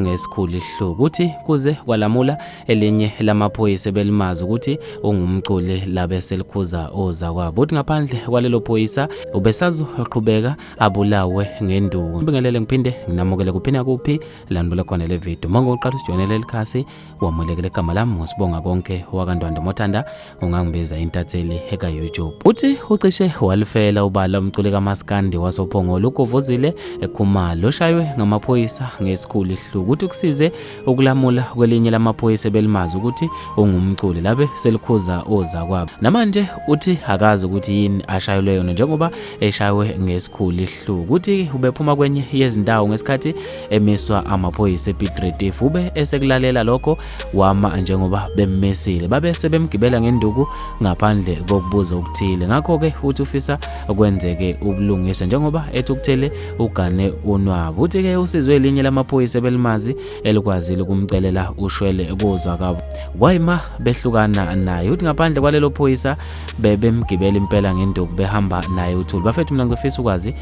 ngesikhulu isihluku uthi kuze kwalamula elinye lamaphoyisa ebelimazi ukuthi ungumculi labe selikhuza oza kwabo uthi ngaphandle kwalelo phoyisa ubesazoqhubeka abulawe ngenduku ngibingelele ngiphinde nginamukele kuphi nakuphi lanibule khona le video uma ngokuqala usijoyinele likhasi wamulekela igama lami ngosibonga konke wakandwando mothanda ungangibiza intatheli ekayoutube uthi ucishe walifela ubala umculi kamaskandi wasophongolo ugovozile ekhumalo oshaywe ngamaphoyisa ngesikhulu ihluku uthi kusize ukulamula kwelinye lamaphoyisa ebelimazi ukuthi ungumculi labe selikhuza oza kwabo namanje uthi akazi ukuthi yini ashayelwe yona njengoba eshaywe ngesikhulu ihluku uthi ubephuma kwenye yezindawo ngesikhathi emiswa amaphoyisa ePiet Retief ube esekulalela lokho wama njengoba bemmisile babe sebemgibela ngenduku ngaphandle kokubuza okuthile ngakho-ke uthi ufisa kwenzeke ubulungisa njengoba ethi ukuthele ugane unwabu uthi-ke usizwe elinye lamaphoyisa ebelimazi elikwazile ukumcelela ushwele kuzwa kabo kwayima behlukana naye uthi ngaphandle kwalelo phoyisa bebemgibela impela ngenduku behamba naye uthuli bafethu mina ngizofisa ukwazi